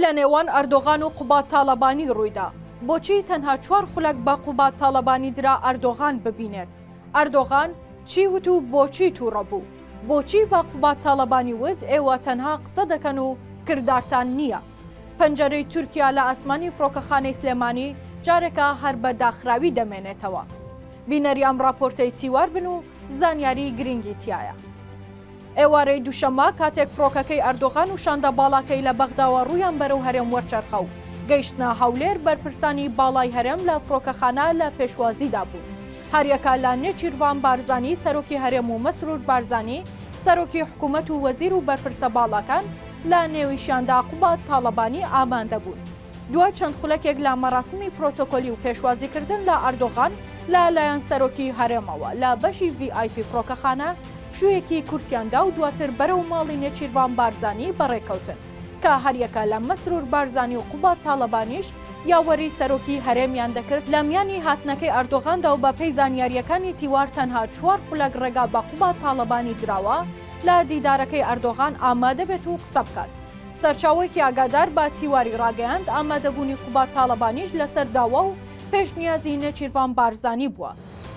لە نێوان ئەردۆغان و قوباد تاڵەبانی ڕوویدا؟ بۆچی تەنها چوار خولەک بە قوباد تاڵەبانی درا ئەردۆغان ببینێت؟ ئەردۆغان چی وت و بۆچی تووڕە بوو؟ بۆچی بە قوباد تاڵەبانی وت ئێوە تەنها قسە دەکەن و کردارتان نییە؟ پەنجەرەی تورکیا لە ئاسمانی فڕۆکەخانەی سلێمانی جارێکە هەر بە داخراوی دەمێنێتەوە. بینەری ئەم ڕاپۆرتەی تیوار بن و زانیاریی گرنگی تیایە. ئێوارەی دووشەممە کاتێک فڕۆکەکەی ئەردۆغان و شاندە باڵاکەی لە بەغداوە ڕوویان بەرەو هەرێم وەرچەرخا و گەیشتنە هەولێر، بەرپرسانی باڵای هەرێم لە فڕۆکەخانە لە پێشوازیدا بوون. هەریەکە لە نێچیرڤان بارزانی سەرۆکی هەرێم و مەسرور بارزانی سەرۆکی حکوومەت و وەزیر و بەرپرسە باڵاکان لە نێویشیاندا قوباد تاڵەبانی ئامادە بوون. دوای چەند خولەکێک لە مەراسمی پرۆتۆکۆلی و پێشوازیکردن لە ئەردۆغان لە لایەن سەرۆکی هەرێمەوە لە بەشی VIP فڕۆکەخانە پشوویەکی کورتیان دا و دواتر بەرەو ماڵی نێچیرڤان بارزانی بەڕێکەوتن کە هەریەکە لە مەسرور بارزانی و قوباد تاڵەبانیش یاوەری سەرۆکی هەرێمیان دەکرد، لە میانی هاتنەکەی ئەردۆغاندا و بەپێی زانیارییەکانی تیوار تەنها چوار خولەک ڕێگا بە قوباد تاڵەبانی دراوە لە دیدارەکەی ئەردۆغان ئامادە بێت و قسە بکات. سەرچاوەیەکی ئاگادار بە تیواری ڕاگەیاند، ئامادەبوونی قوباد تاڵەبانیش لەسەر داوا و پێشنیازی نێچیرڤان بارزانی بووە.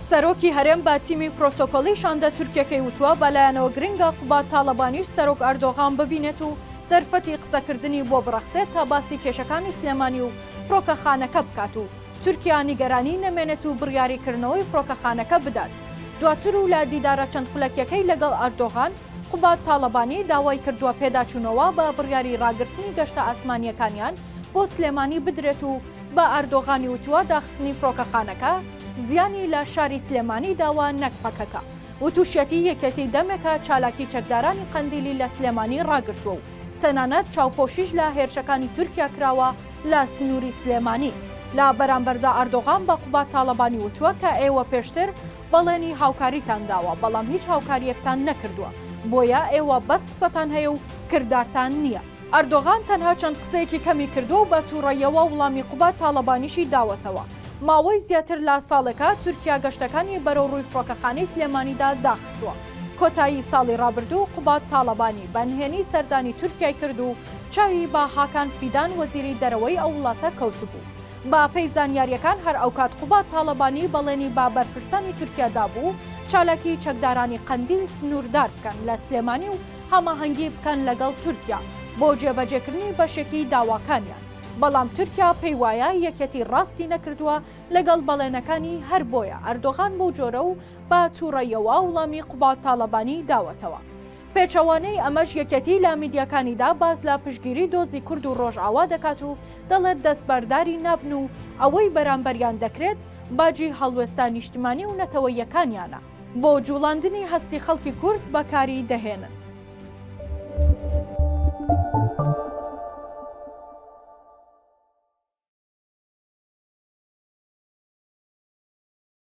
سەرۆکی هەرێم بە تیمی پرۆتۆکۆلی شاندە تورکییەکەی وتووە، بە لایەنەوە گرنگە قوباد تاڵەبانیش سەرۆک ئەردۆغان ببینێت و دەرفەتی قسەکردنی بۆ بڕەخسێت تا باسی کێشەکانی سلێمانی و فڕۆکەخانەکە بکات و تورکیا نیگەرانی نەمێنێت و بڕیاری کردنەوەی فڕۆکەخانەکە بدات. دواتر و لە دیدارە چەند خولەکیەکەی لەگەڵ ئەردۆغان، قوباد تاڵەبانی داوای کردووە پێداچوونەوە بە بڕیاری ڕاگرتنی گەشتە ئاسمانییەکانیان بۆ سلێمانی بدرێت و بە ئەردۆغانی وتووە داخستنی فڕۆکەخانەکە زیانی لە شاری سلێمانی داوە نەک پەکەکە. وتوشیەتی یەکێتی دەمێکە چالاکی چەکدارانی قەندیلی لە سلێمانی ڕاگرتووە و تەنانەت چاوپۆشیش لە هێرشەکانی تورکیا کراوە لە سنووری سلێمانی لە بەرامبەردا ئەردۆغان بە قوباد تاڵەبانی وتووە کە ئێوە پێشتر بەڵێنی هاوکاریتان داوە بەڵام هیچ هاوکارییەکتان نەکردووە بۆیە ئێوە بەس قسەتان هەیە و کردارتان نییە. ئەردۆغان تەنها چەند قسەیەکی کەمی کردووە و بە تووڕەیەوە وڵامی قوباد تاڵەبانیشی داوەتەوە. ماوەی زیاتر لە ساڵێکە تورکیا گەشتەکانی بەرەو ڕووی فڕۆکەخانەی سلێمانیدا داخستووە. کۆتایی ساڵی ڕابردوو قوباد تاڵەبانی بە نهێنی سەردانی تورکیای کرد و چاوی بە هاکان فیدان وەزیری دەرەوەی ئەو وڵاتە کەوتبوو. بە پێی زانیارییەکان هەر ئەوکات قوباد تاڵەبانی بەڵێنی بە بەرپرسانی تورکیا دابوو چالاکیی چەکدارانی قەندیل سنووردار بکەن لە سلێمانی و هەماهەنگی بکەن لەگەڵ تورکیا بۆ جێبەجێکردنی بەشێکی داواکانیان بەڵام تورکیا پێی وایە یەکێتی ڕاستی نەکردووە لەگەڵ بەڵێنەکانی هەر بۆیە ئەردۆغان بەو جۆرە و بە تووڕەیەوە وڵامی قوباد تاڵەبانی داوەتەوە. پێچەوانەی ئەمەش یەکێتی لە میدیاکانیدا باس لە پشتگیری دۆزی کورد و ڕۆژئاوا دەکات و دەڵێت دەستبەرداری نابن و ئەوەی بەرامبەریان دەکرێت باجی هەڵوێستە نیشتمانی و نەتەوەییەکانیانە بۆ جوڵاندنی هەستی خەڵکی کورد بەکاری دەهێنن.